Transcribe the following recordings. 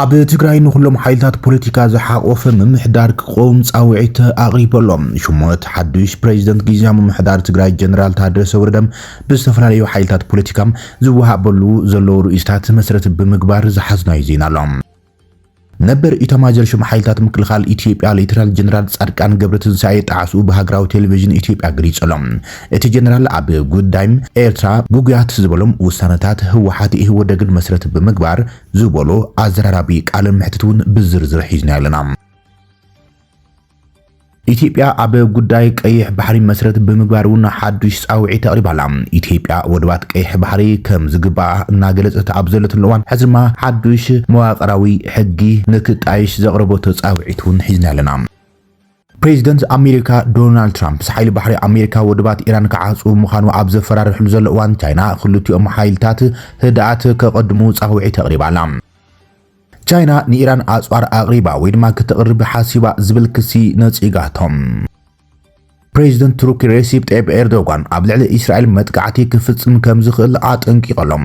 ኣብ ትግራይ ንኹሎም ሓይልታት ፖለቲካ ዝሓቖፈ ምምሕዳር ክቆም ፃውዒት ኣቕሪቡ ኣሎ። ሹመት ሓዱሽ ፕሬዚደንት ግዝያዊ ምምሕዳር ትግራይ ጀነራል ታደሰ ወረደ ብዝተፈላለዩ ሓይልታት ፖለቲካ ዝወሃበሉ ዘለዉ ርእይቶታት መሰረት ብምግባር ዝሓዝናዩ ዜና ኣሎ። ነበር ኢታማዦር ሹም ሓይልታት ምክልኻል ኢትዮጵያ ሌተናል ጀነራል ፃድቃን ገብረትንሳኤ ጣዕስኡ ብሃገራዊ ቴሌቪዥን ኢትዮጵያ ገሊፁ ኣሎ። እቲ ጀነራል ኣብ ጉዳይ ኤርትራ ግጉያት ዝበሎም ውሳነታት ህወሓት ኢህወደግን መሰረት ብምግባር ዝበሎ ኣዘራራቢ ቃለ መሕትት እውን ብዝርዝር ሒዝናዮ ኣለና። ኢትዮጵያ ኣብ ጉዳይ ቀይሕ ባሕሪ መሰረት ብምግባር እውን ሓዱሽ ጻውዒት ኣቕሪባ ኣላ። ኢትዮጵያ ወደባት ቀይሕ ባሕሪ ከም ዝግባኣ እናገለጸት ኣብ ዘለትሉ እዋን ሕዚ ድማ ሓዱሽ መዋቕራዊ ሕጊ ንክጣየሽ ዘቕረበቶ ጻውዒት እውን ሒዝናዮ ኣለና። ፕሬዚደንት ኣሜሪካ ዶናልድ ትራምፕ ምስ ሓይሊ ባሕሪ ኣሜሪካ ወደባት ኢራን ክዓፅው ምዃኑ ኣብ ዘፈራርሕሉ ዘሎ እዋን ቻይና ክልቲኦም ሓይልታት ህድኣት ከቐድሙ ፃውዒት ኣቕሪባ ኣላ። ቻይና ንኢራን ኣፅዋር ኣቕሪባ ወይ ድማ ክተቕርብ ሓሲባ ዝብል ክሲ ነፂጋቶም። ፕሬዚደንት ቱርኪ ሬሲፕ ጠይብ ኤርዶጋን ኣብ ልዕሊ እስራኤል መጥቃዕቲ ክፍጽም ከም ዝኽእል ኣጠንቂቐሎም።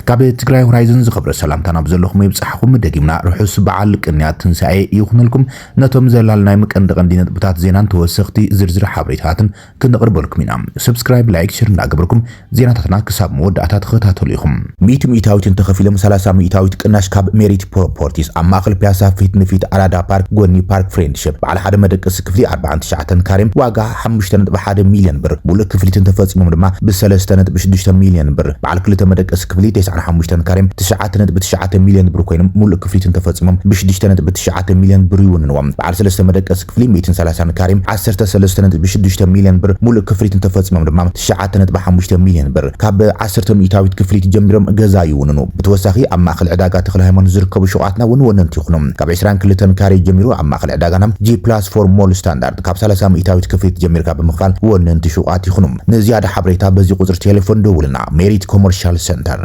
ካብ ትግራይ ሆራይዘን ዝኸብረ ሰላምታ ናብ ዘለኹም ይብጻሕኹም። ደጊምና ርሑስ በዓል ቅንያት ትንሳኤ ይኹነልኩም። ነቶም ዘላልናዮም ቀንዲ ቀንዲ ነጥብታት ዜናን ተወሰኽቲ ዝርዝር ሓበሬታታትን ክነቕርበልኩም ኢና። Subscribe፣ Like፣ Share እንዳገበርኩም ዜናታትና ክሳብ መወዳእታ ተኸታተሉ ኢኹም። ሚእቲ ሚእታዊት እንተኸፊሎም ሰላሳ ሚእታዊት ቅናሽ ካብ ሜሪት ፕሮፖርቲስ ኣብ ማእኸል ፒያሳ ፊት ንፊት ኣራዳ ፓርክ ጎኒ ፓርክ ፍሬንድሽፕ በዓል ሓደ መደቀሲ ክፍሊ ኣርብዓን ትሽዓተን ካሬ ዋጋ ሓሙሽተ ነጥቢ ሓደ ሚልዮን ብር፣ ሙሉእ ክፍሊት እንተፈፂሞም ድማ ብ ሰለስተ ነጥቢ ሽዱሽተ ሚልዮን ብር፣ በዓል ክልተ መደቀሲ ክፍሊ ተስዓን ሓሙሽተን ካሬም ትሽዓተ ነጥቢ ትሽዓተ ሚልዮን ብር ኮይኖም ሙሉእ ክፍሊት እንተፈፂሞም ብ ሽዱሽተ ነጥቢ ትሽዓተ ሚልዮን ብር ይውንንዎም። በዓል ሰለስተ መደቀሲ ክፍሊ ሚእትን ሰላሳን ካሬም ዓሰርተ ሰለስተ ነጥቢ ሽዱሽተ ሚልዮን ብር፣ ሙሉእ ክፍሊት እንተፈፂሞም ድማ ትሽዓተ ነጥቢ ሓሙሽተ ሚልዮን ብር ካብ ዓሰርተ ሚኢታዊት ክፍሊት ጀሚሮም ገዛ ይውንኑ። ብተወሳኺ ኣብ ማእኸል ዕዳጋ ተኽለሃይማኖት ዝርከቡ ሹቓትና እውን ወነንቲ ይኹኑ። ካብ ዕስራን ክልተን ካሬ ጀሚሩ ኣብ ማእኸል ዕዳጋና ጂ ፕላስ ፎር ሞል ስታንዳርድ ካብ ሰላሳ ሚኢታዊት ክፍሊት ጀሚርካ ብምኽፋል ወነንቲ ሹቓት ይኹኑ። ንዝያዳ ሓበሬታ በዚ ቁፅሪ ቴሌፎን ደውልና። ሜሪት ኮመርሻል ሰንተር።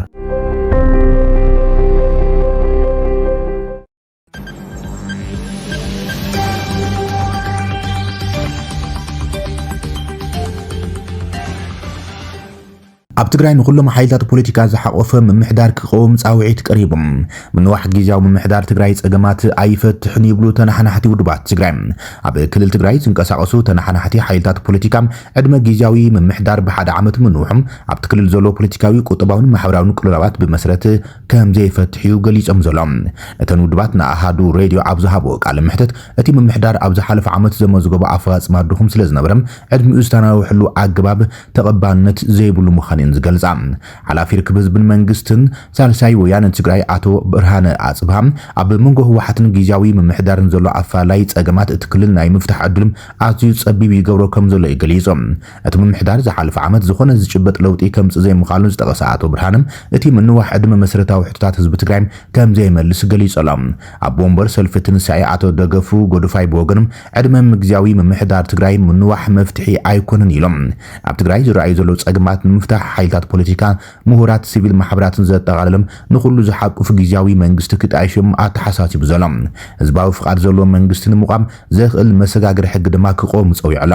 ኣብ ትግራይ ንኹሎም ሓይልታት ፖለቲካ ዝሓቆፈ ምምሕዳር ክቀውም ፃውዒት ቀሪቡ። ምንዋሕ ግዜያዊ ምምሕዳር ትግራይ ፀገማት ኣይፈትሕን ይብሉ ተናሓናሕቲ ውድባት ትግራይ። ኣብ ክልል ትግራይ ዝንቀሳቀሱ ተናሓናሕቲ ሓይልታት ፖለቲካ ዕድመ ግዜያዊ ምምሕዳር ብሓደ ዓመት ምንውሑ ኣብቲ ክልል ዘሎ ፖለቲካዊ፣ ቁጠባውን ማሕበራውን ቅልውላዋት ብመሰረት ከም ዘይፈትሕ'ዩ ገሊጾም ዘሎ። እተን ውድባት ንኣሃዱ ሬድዮ ኣብ ዝሃብኦ ቃለ መሕትት፣ እቲ ምምሕዳር ኣብ ዝሓለፈ ዓመት ዘመዝገቦ ኣፈጻጽማ ድኹም ስለ ዝነበረ ዕድሚኡ ዝተናውሐሉ ኣገባብ ተቐባልነት ዘይብሉ ምዃኑ'የን ዝገልጻ። ሓላፊ ርክብ ህዝብን መንግስትን ሳልሳይ ወያነ ትግራይ ኣቶ ብርሃነ ኣጽብሃ፣ ኣብ መንጎ ህወሓትን ግዝያዊ ምምሕዳርን ዘሎ ኣፈላላይ ጸገማት እቲ ክልል ናይ ምፍታሕ ዕድሉ ኣዝዩ ጸቢብ ይገብሮ ከም ዘሎ'ዩ ገሊጹ። እቲ ምምሕዳር ዝሓለፈ ዓመት ዝኾነ ዝጭበጥ ለውጢ ከምፅእ ዘይምኻሉ ዝጠቐሰ ኣቶ ብርሃነ እቲ ምንዋሕ ዕድመ መሰረታዊ ሕቶታት ህዝቢ ትግራይ ከምዘይመልስ ገሊፁ ኣሎ። ኣቦ ወንበር ሰልፊ ትንሳኤ ኣቶ ደገፉ ጎደፋይ ብወገኖም ዕድመ ግዝያዊ ምምሕዳር ትግራይ ምንዋሕ መፍትሒ ኣይኮነን ኢሎም። ኣብ ትግራይ ዝረኣዩ ዘለዉ ፀገማት ንምፍታሕ ሓይልታት ፖለቲካ፣ ምሁራት፣ ሲቪል ማሕበራትን ዘጠቓለለ ንኹሉ ዝሓቁፍ ግዝያዊ መንግስቲ ክጣየሽ እዮም ኣተሓሳሲቡ ዘሎ። ህዝባዊ ፍቓድ ዘለዎ መንግስቲ ንምቋም ዘኽእል መሰጋገሪ ሕጊ ድማ ክቖም ፀዊዑ ኣሎ።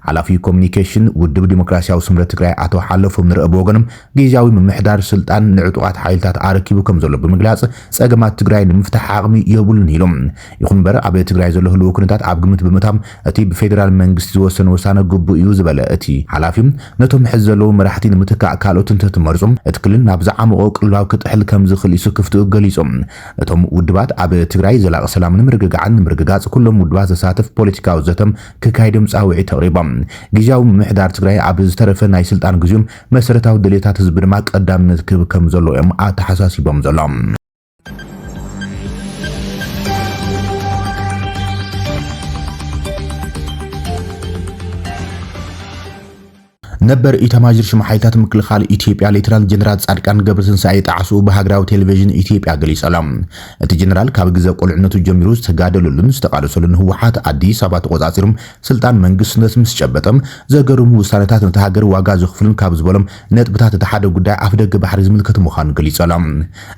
ሓላፊ ኮሙኒኬሽን ውድብ ዲሞክራሲያዊ ስምረት ትግራይ ኣቶ ሓለፎም ንረኢ ብወገኖም፣ ጊዚያዊ ምምሕዳር ስልጣን ንዕጡቓት ሓይልታት ኣረኪቡ ከምዘሎ ብምግላፅ፣ ፀገማት ትግራይ ንምፍታሕ ዓቕሚ የብሉን ኢሉ። ይኹን እምበር ኣብ ትግራይ ዘሎ ህልዊ ኩነታት ኣብ ግምት ብምእታው እቲ ብፌደራል መንግስቲ ዝወሰን ውሳነ ግቡእ እዩ ዝበለ እቲ ሓላፊ፣ ነቶም ሕዚ ዘለዉ መራሕቲ ንምትካእ ካልኦት እንተትመርፁ እቲ ክልል ናብ ዝዓሞቖ ቅልውላው ክጥሕል ከምዝኽእል ስክፍትኡ ገሊፁ። እቶም ውድባት ኣብ ትግራይ ዘላቒ ሰላምን ምርግጋዕን ንምርግጋፅ ኩሎም ውድባት ዘሳትፍ ፖለቲካዊ ዘተ ክካየድ'ዮም ጻውዒት ኣቕሪቦም። ግዝያዊ ምምሕዳር ትግራይ ኣብ ዝተረፈ ናይ ስልጣን ግዜኡ መሰረታዊ ድልየታት ህዝቢ ድማ ቀዳምነት ክህብ ከም ዘለዎ'ዮም ኣተሓሳሲቦም ዘሎም። ነበር ኢታማዦር ሹም ሓይልታት ምክልኻል ኢትዮጵያ ሌተናል ጀነራል ጻድቃን ገብረትንሳኤ ጣዕስኡ ብሃገራዊ ቴሌቪዥን ኢትዮጵያ ገሊጹ ኣሎ። እቲ ጀነራል ካብ ግዘ ቁልዕነቱ ጀሚሩ ዝተጋደለሉን ዝተቓለሰሉን ህወሓት ኣዲስ ኣበባ ተቖጻጺሩ ስልጣን መንግስትነት ምስ ጨበጠ ዘገርሙ ውሳነታት ነታ ሃገር ዋጋ ዘኽፍሉን ካብ ዝበሎም ነጥብታት እቲ ሓደ ጉዳይ ኣፍደገ ባሕሪ ዝምልከት ምዃኑ ገሊጹ ኣሎ።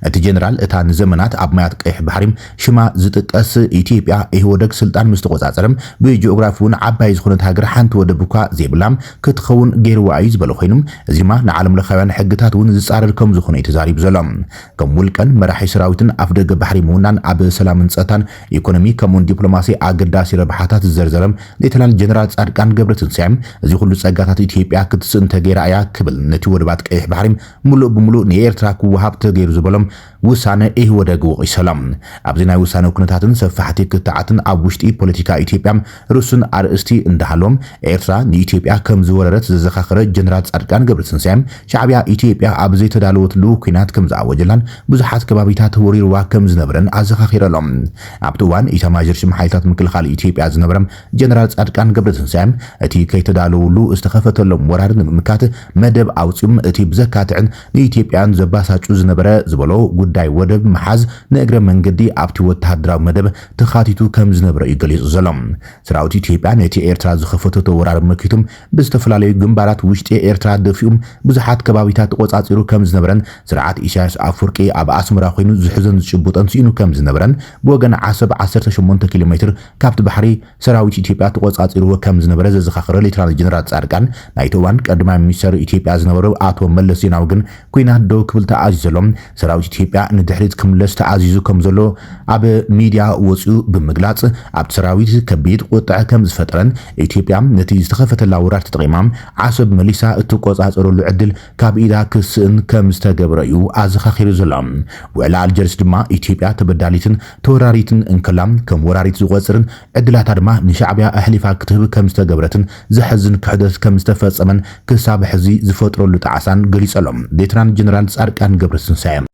እቲ ጀነራል እታ ንዘመናት ኣብ ማያት ቀይሕ ባሕሪ ሽማ ዝጥቀስ ኢትዮጵያ ኢህወደግ ስልጣን ምስ ተቖጻጸረ ብጂኦግራፊ'ውን ዓባይ ዝኾነት ሃገር ሓንቲ ወደብ እኳ ዘይብላ ክትኸውን ገይርዋ እዩ ዝበለ ኮይኑ እዚ ድማ ንዓለምለኻውያን ሕግታት እውን ዝጻረር ከምዝኾነ እዩ ተዛሪቡ ዘሎ። ከም ውልቀን መራሒ ሰራዊትን ኣፍደገ ባሕሪ ምውናን ኣብ ሰላምን ጸጥታን፣ ኢኮኖሚ ከምኡ'ውን ዲፕሎማሲ ኣገዳሲ ረብሓታት ዝዘርዘረ ሌተናል ጀነራል ጻድቃን ገብረትንሳኤ እዚ ኹሉ ጸጋታት ኢትዮጵያ ክትስእን ተገይራ እያ ክብል ነቲ ወደባት ቀይሕ ባሕሪ ምሉእ ብምሉእ ንኤርትራ ክወሃብ ተገይሩ ዝበሎም ውሳነ ኢህወደግ ወቒሱ ኣሎ። ኣብዚ ናይ ውሳነ ኩነታትን ሰፋሕቲ ክትዓትን ኣብ ውሽጢ ፖለቲካ ኢትዮጵያ ርሱን ኣርእስቲ እንዳሃለዎም ኤርትራ ንኢትዮጵያ ከም ዝወረረት ዘዘኻኸረ ጀነራል ጻድቃን ገብረትንሳኤ ሻዕብያ ኢትዮጵያ ኣብ ዘይተዳለወትሉ ኲናት ከም ዝኣወጀላን ብዙሓት ከባቢታት ወሪርዋ ከም ዝነበረን ኣዘኻኺሩ ኣሎ። ኣብቲ እዋን ኢታማዦር ሹም ሓይልታት ምክልኻል ኢትዮጵያ ዝነበረ ጀነራል ጻድቃን ገብረትንሳኤ፣ እቲ ከይተዳለዉሉ ዝተኸፈተሎም ወራር ንምምካት መደብ ኣውጺኡ፣ እቲ ብዘካትዕን ንኢትዮጵያውያን ዘባሳጩ ዝነበረ ዝበሎ ጉዳይ ወደብ ምሓዝ ንእግረ መንገዲ ኣብቲ ወተሃደራዊ መደብ ተኻቲቱ ከም ዝነብረ'ዩ ገሊጹ ዘሎ። ሰራዊት ኢትዮጵያ ነቲ ኤርትራ ዝኸፈተቶ ወራር መኪቱ ብዝተፈላለዩ ግንባራት ውሽጢ ኤርትራ ደፊኡ ብዙሓት ከባቢታት ተቖጻጺሩ ከም ዝነበረን ስርዓት ኢሳያስ ኣፍወርቂ ኣብ ኣስመራ ኮይኑ ዝሕዞን ዝጭብጦን ስኢኑ ከም ዝነበረን ብወገን ዓሰብ ዓሰርተ ሸሞንተ ኪሎ ሜትር ካብቲ ባሕሪ ሰራዊት ኢትዮጵያ ተቖጻጺርዎ ከም ዝነበረ ዘዘኻኸረ ሌተናል ጀነራል ጻድቃን፣ ናይቲ እዋን ቀዳማይ ሚኒስተር ኢትዮጵያ ዝነበሩ ኣቶ መለስ ዜናዊ ግን ኲናት ደው ክብል ተኣዚዘሎ ሰራዊት ኢትዮጵያ ንድሕሪት ክምለስ ተኣዚዙ ከም ዘሎ ኣብ ሚድያ ወጺኡ ብምግላጽ ኣብቲ ሰራዊት ከቢድ ቁጥዐ ከም ዝፈጠረን ኢትዮጵያ ነቲ ዝተኸፈተላ ወራር ተጠቒማ ዓሰብ መሊሳ እትቆጻጸረሉ ዕድል ካብ ኢዳ ክስእን ከም ዝተገብረ'ዩ ኣዘኻኺሩ ዘሎ። ውዕሊ ኣልጀርስ ድማ ኢትዮጵያ ተበዳሊትን ተወራሪትን እንከላ ከም ወራሪት ዝቖጽርን ዕድላታ ድማ ንሻዕብያ ኣሕሊፋ ክትህብ ከም ዝተገብረትን ዘሕዝን ክሕደት ከም ዝተፈጸመን ክሳብ ሕዚ ዝፈጥረሉ ጣዕሳን ገሊጹ ኣሎ ሌተናል ጀነራል ጻድቃን ገብረትንሳኤ።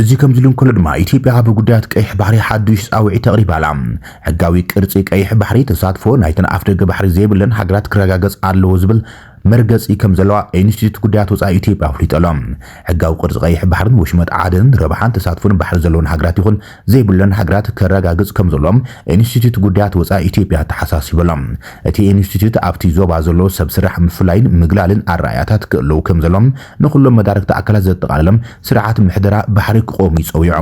እዚ ከምዚ ኢሉ እንከሎ ድማ ኢትዮጵያ ኣብ ጉዳያት ቀይሕ ባሕሪ ሓዱሽ ጻውዒት ኣቕሪባ ኣላ። ሕጋዊ ቅርጺ ቀይሕ ባሕሪ ተሳትፎ ናይተን ኣፍደገ ባሕሪ ዘይብለን ሃገራት ክረጋገጽ ኣለዎ ዝብል መርገጺ ከም ዘለዋ ኢንስቲትዩት ጉዳያት ወጻኢ ኢትዮጵያ ኣፍሊጡ ኣሎ። ሕጋዊ ቅርጺ ቀይሕ ባሕርን ወሽመጥ ዓደንን ረብሓን ተሳትፎን ባሕሪ ዘለወን ሃገራት ይኹን ዘይብለን ሃገራት ከረጋግጽ ከምዘሎ ኢንስቲትዩት ጉዳያት ወጻኢ ኢትዮጵያ ኣተሓሳሲቡ ኣሎ። እቲ ኢንስቲትዩት ኣብቲ ዞባ ዘሎ ሰብ ስራሕ ምፍላይን ምግላልን ኣረኣእያታት ክእለዉ ከምዘሎ ንኹሎም መዳርግቲ ኣካላት ዘጠቓለለ ስርዓት ምሕደራ ባሕሪ ክቖም'ዩ ጸዊዑ።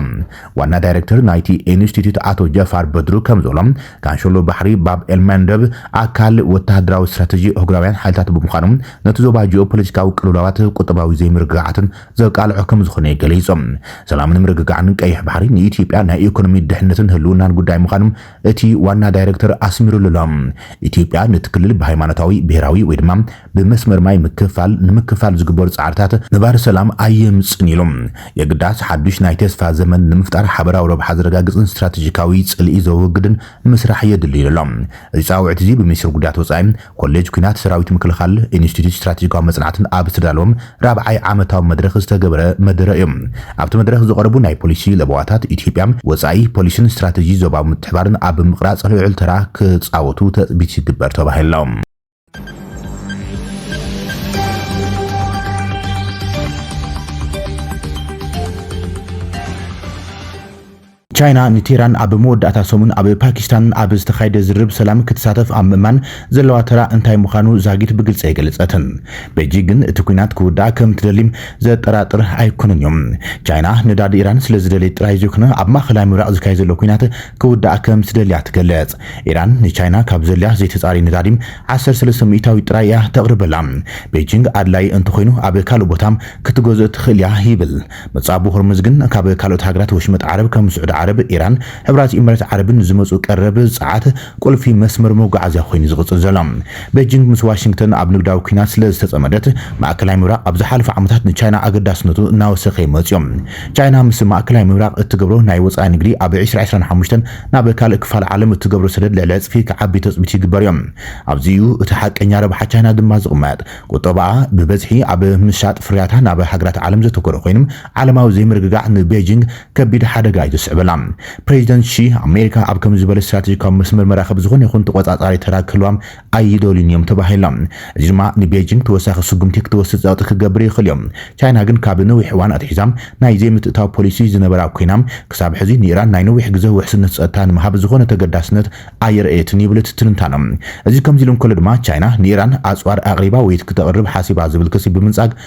ዋና ዳይረክተር ናይቲ ኢንስቲትዩት ኣቶ ጀፋር በድሩ ከምዝበሎ ካንሸሎ ባሕሪ ባብ ኤልመንደብ ኣካል ወተሃደራዊ ስትራተጂ ኣህጉራውያን ሓይልታት ብምዃኑ ነቲ ዞባ ጂኦፖለቲካዊ ቅልውላዋት፣ ቁጠባዊ ዘይምርግጋዓትን፣ ዘቃልዖ ከምዝኾነ ገሊፆም። ሰላምን ምርግጋዕን ቀይሕ ባሕሪ ንኢትዮጵያ ናይ ኢኮኖሚ ድሕነትን ህልውናን ጉዳይ ምዃኑ እቲ ዋና ዳይሬክተር ኣስሚሩሉ ኣሎ። ኢትዮጵያ ነቲ ክልል ብሃይማኖታዊ፣ ብሄራዊ ወይ ድማ ብመስመር ማይ ምክፍፋል ንምክፍፋል ዝግበሩ ፃዕርታት ነባሪ ሰላም ኣየምፅእን ኢሉ። የግዳስ ሓዱሽ ናይ ተስፋ ዘመን ንምፍጣር ሓበራዊ ረብሓ ዘረጋግፅን ስትራቴጂካዊ ፅልኢ ዘወግድን ምስራሕ የድሊ ኢሉ ኣሎ። እዚ ጻውዒት'ዚ ብሚኒስትሪ ጉዳያት ወጻኢ፣ ኮሌጅ ኲናት ሰራዊት ምክልኻል፣ ኢንስቲትዩት ስትራቴጂካዊ መጽናዕትን ኣብ ዝተዳለወ ራብዓይ ዓመታዊ መድረኽ ዝተገበረ መደረ እዩ። ኣብቲ መድረኽ ዝቐረቡ ናይ ፖሊሲ ለበዋታት ኢትዮጵያ፣ ወጻኢ ፖሊሲን ስትራቴጂ ዞባዊ ምትሕብባርን ኣብ ምቕራጽ ልዑል ተራ ክጻወቱ ተጽቢት ይግበር ተባሂሉ ኣሎ። ቻይና ንቴህራን ኣብ መወዳእታ ሰሙን ኣብ ፓኪስታን ኣብ ዝተኻየደ ዝርርብ ሰላም ክትሳተፍ ኣብ ምእማን ዘለዋ ተራ እንታይ ምዃኑ ዛጊት ብግልፂ ኣይገለፀትን። ቤጂንግ ግን እቲ ኲናት ክውዳእ ከም ትደሊ ዘጠራጥር ኣይኮነን እዩ። ቻይና ነዳዲ ኢራን ስለ ዝደልየት ጥራይ ዘይኮነ ኣብ ማእኸላይ ምብራቕ ዝካየድ ዘሎ ኲናት ክውዳእ ከም ትደሊ እያ ትገልፅ። ኢራን ንቻይና ካብ ዘድልያ ዘይተጻረየ ነዳዲ ዓሰርተ ሰለስተ ሚእታዊት ጥራይ እያ ተቕርበላ። ቤጂንግ ኣድላዪ እንተኾይኑ ኣብ ካልእ ቦታ ክትገዝእ ትኽእል እያ ይብል። መጻብቦ ሆርሙዝ ግን ካብ ካልኦት ሃገራት ወሽመጥ ዓረብ ከም ስዑዲ ዓረብ፣ ኢራን፣ ሕቡራት ኢሚሬት ዓረብን ዝመጽኡ ቀረብ ጸዓት ቁልፊ መስመር መጓዓዝያ ኮይኑ'ዩ ዝቕጽል ዘሎ። ቤጂንግ ምስ ዋሽንግተን ኣብ ንግዳዊ ኲናት ስለዝተጸመደት ማእከላይ ምብራቕ ኣብ ዝሓለፉ ዓመታት ንቻይና ኣገዳስነቱ እናወሰኸ'ዩ መጺኡ። ቻይና ምስ ማእከላይ ምብራቕ እትገብሮ ናይ ወጻኢ ንግዲ ኣብ ዕስራ ዕስራን ሓሙሽተን ናብ ካልእ ክፋል ዓለም እትገብሮ ሰደድ ልዕሊ ዕጽፊ ክዓቢ ተጽቢት ይግበርዮ። ኣብዚ እዩ እቲ ሓቀኛ ረብሓ ቻይና ድማ ዝቕመጥ። ቁጠባኣ ብበዝሒ ኣብ ምሻጥ ፍርያታ ናብ ሃገራት ዓለም ዘተኮረ ኮይኑ፣ ዓለማዊ ዘይምርግጋዕ ንቤጂንግ ከቢድ ሓደጋ እዩ ዘስዕበላ። ፕረዚደንት ሺ፣ ኣሜሪካ ኣብ ከምዚ ዝበለ ስትራተጂካዊ መስመር መራኽብ ዝኾነ ይኹን ተቖጻጻሪ ተራ ክህልዋ ኣይደልዩን እዮም ተባሂሎም። እዚ ድማ ንቤጂንግ ተወሳኺ ስጉምቲ ክትወስድ ጸቕጢ ክገብር ይኽእል እዩ። ቻይና ግን ካብ ነዊሕ እዋን ኣትሒዛ ናይ ዘይምትእታው ፖሊሲ ዝነበራ ኰይና፣ ክሳብ ሕዚ ንኢራን ናይ ነዊሕ ግዘ ውሕስነት ጸጥታ ንምሃብ ዝዀነ ተገዳስነት ኣየርእየትን ይብል እቲ ትንታነ። እዚ ከምዚ ኢሉ እንከሎ ድማ ቻይና ንኢራን ኣጽዋር ኣቕሪባ ወይ ክተቕርብ ሓሲባ ዝብል ክሲ ብምንጻግ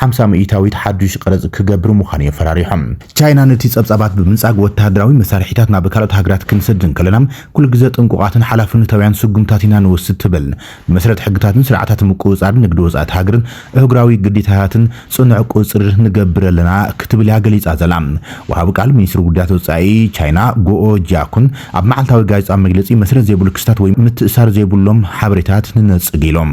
ሓምሳ ምኢታዊት ሓዱሽ ቀረጽ ክገብር ምዃኑ እዩ ፈራሪሖም። ቻይና ነቲ ጸብጻባት ብምንጻግ ወተሃደራዊ መሳርሒታት ናብ ካልኦት ሃገራት ክንሰድድ እንከለና ኩሉ ግዘ ጥንቁቓትን ሓላፍነታውያን ስጉምታት ኢና ንወስድ ትብል። ብመሰረት ሕግታትን ስርዓታት ምቁጽጻር ንግዲ ወጻእቲ ሃገርን እህጉራዊ ግዴታታትን ጽኑዕ ቁጽጽር ንገብር ኣለና ክትብል እያ ገሊጻ ዘላ። ወሃቢ ቃል ሚኒስትሪ ጉዳያት ወጻኢ ቻይና ጎኦ ጂያኩን ኣብ መዓልታዊ ጋዜጣዊ መግለጺ መስረት ዘይብሉ ክስታት ወይ ምትእስሳር ዘይብሎም ሓበሬታት ንነጽግ ኢሎም።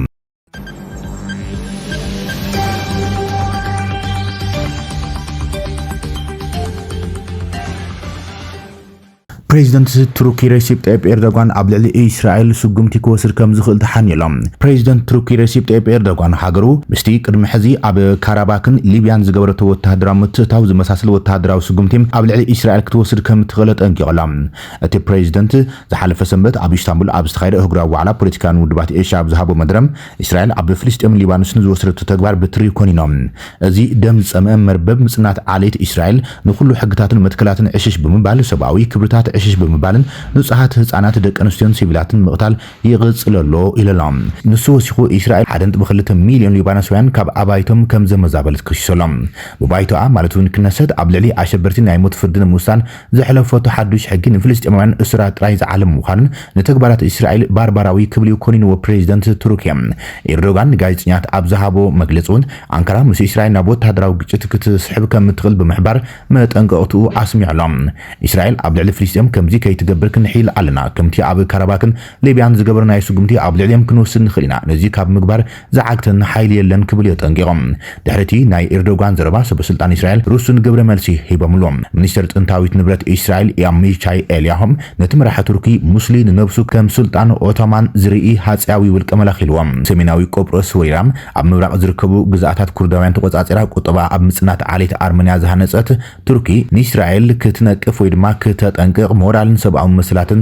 ፕሬዚደንት ቱርኪ ረሲፕ ጠይብ ኤርዶጋን ኣብ ልዕሊ እስራኤል ስጉምቲ ክወስድ ከም ዝኽእል ተሓኒሎም ፕሬዚደንት ቱርኪ ረሲፕ ጠይብ ኤርዶጋን ሃገሩ ምስቲ ቅድሚ ሕዚ ኣብ ካራባክን ሊብያን ዝገበረቶ ወተሃደራዊ ምትእታው ዝመሳሰል ወተሃደራዊ ስጉምቲ ኣብ ልዕሊ እስራኤል ክትወስድ ከም እትኽእል ኣጠንቂቑላ። እቲ ፕሬዚደንት ዝሓለፈ ሰንበት ኣብ ኢስታንቡል ኣብ ዝተኻየደ ኣህጉራዊ ዋዕላ ፖለቲካውያን ውድባት ኤሽያ ኣብ ዝሃቦ መደረ፣ ኢስራኤል ኣብ ፍልስጤምን ሊባኖስን ዝወሰደቶ ተግባር ብትሪ ኮኒኖ። እዚ ደም ዝፀምአ መርበብ ምፅናት ዓሌት ኢስራኤል ንኹሉ ሕግታትን መትከላትን ዕሽሽ ብምባል፣ ሰብኣዊ ክብርታት ዕሽሽ ብምባልን ንፁሃት ህፃናት፣ ደቂ ኣንስትዮን ሲቪላትን ምቕታል ይቕፅል ኣሎ ኢሉ'ሎ። ንሱ ወሲኹ ኢስራኤል ሓደ ነጥቢ ክልተ ሚሊዮን ሊባኖሳውያን ካብ ኣባይቶም ከምዘመዛበለት ከሲሱ'ሎ። ብባይቶኣ ማለት'ውን ክነሰት ኣብ ልዕሊ ኣሸበርቲ ናይ ሞት ፍርዲ ንምውሳን ዘሕለፈቶ ሓዱሽ ሕጊ ንፍልስጤማውያን እሱራት ጥራይ ዝዓለመ ምዃኑን ንተግባራት እስራኤል ባርባራዊ ክብል'ዩ ኮኒንዎ ፕረዚደንት ቱርኪ ኢርዶጋን ንጋዜጠኛታት ኣብ ዝሃቦ መግለጺ'ውን ኣንካራ ምስ እስራኤል ናብ ወተሃደራዊ ግጭት ክትስሕብ ከም እትኽእል ብምሕባር መጠንቀቕትኡ ኣስሚዑ'ሎ እስራኤል ኣብ ልዕሊ ፍልስጤም ከምዚ ከይትገብር ክንሕይል ኣለና ከምቲ ኣብ ካራባክን ሊብያን ዝገበርናዮ ስጉምቲ ኣብ ልዕሊኦም ክንወስድ ንኽእል ኢና ነዚ ካብ ምግባር ዝዓግተና ሓይሊ የለን ክብል የጠንቂቑ። ድሕሪ'ቲ ናይ ኢርዶጋን ዘረባ ሰበስልጣን እስራኤል ርሱን ግብረ መልሲ ሂቦምሉ። ሚኒስተር ጥንታዊት ንብረት እስራኤል ኣሚቻይ ኤልያሆም ነቲ መራሒ ቱርኪ ሙስሊ ንነብሱ ከም ሱልጣን ኦቶማን ዝርኢ ሃጸያዊ ውልቀ መላኺ ኢልዎ። ሰሜናዊ ቆጵሮስ ወሪራ ኣብ ምብራቕ ዝርከቡ ግዝኣታት ኩርዳውያን ተቖጻጺራ ቁጠባኣ ኣብ ምጽናት ዓሌት ኣርመንያ ዝሃነጸት ቱርኪ ንእስራኤል ክትነቅፍ ወይ ድማ ክተጠንቅቕ ሞራልን ሰብኣዊ መሰላትን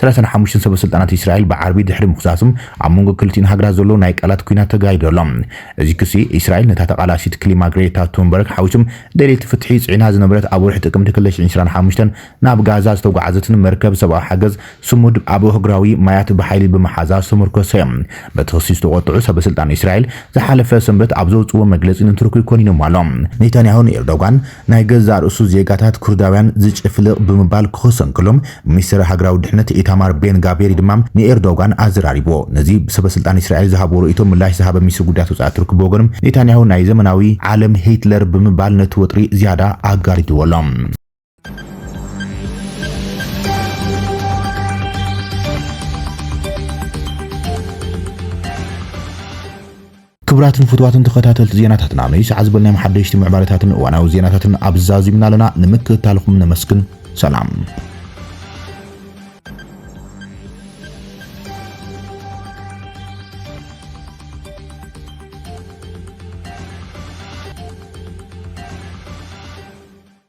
ሰላሳን ሓሙሽተን ሰበስልጣናት እስራኤል ብዓርቢ ድሕሪ ምኽሳሶም፣ ኣብ መንጎ ክልቲኤን ሃገራት ዘሎ ናይ ቃላት ኲናት ተጋሂዱ ኣሎ። እዚ ክሲ፣ እስራኤል ነታ ተቓላሲት ክሊማ ግሬታ ቱንበርግ ሓዊሶም ደለይቲ ፍትሒ ጽዒና ዝነበረት ኣብ ወርሒ ጥቅምቲ ክልተ ሽሕን ዕስራን ሓሙሽተን ናብ ጋዛ ዝተጓዕዘትን መርከብ ሰብኣዊ ሓገዝ ስሙድ ኣብ ኣህጉራዊ ማያት ብሓይሊ ብምሓዛ ዝተመርኮሰ'ዩ። በቲ ክሲ ዝተቖጥዑ ሰበስልጣን እስራኤል፣ ዝሓለፈ ሰንበት ኣብ ዘውጽእዎ መግለጺ ንቱርኪ ኮኒኖም'ሎ። ኔታንያሁ ንኤርዶጋን ናይ ገዛእ ርእሱ ዜጋታት ኩርዳውያን ዝጭፍልቕ ብምባል ክኸሶ እንከሎ፣ ሚኒስተር ሃገራዊ ድሕነት ኢታማር ቤን ጋቬሪ ድማ ንኤርዶጋን ኣዘራሪቡዎ። ነዚ ሰበስልጣን እስራኤል ዝሃቡዎ ርእይቶ ምላሽ ዝሃበ ሚኒስትሪ ጉዳያት ወጻኢ'ቲ ርክብ ብወገኑ፣ ኔታንያሁ ናይ ዘመናዊ ዓለም ሂትለር ብምባል ነቲ ወጥሪ ዝያዳ ኣጋዲድዎ ኣሎ። ክብራትን ፍትዋትን ተኸታተልቲ ዜናታትና ንይሳዕ ዝበልናዮም ሓደሽቲ ምዕባለታትን እዋናዊ ዜናታትን ኣብዚ ዛዚምና ኣለና ንምክትታልኹም ነመስግን ሰላም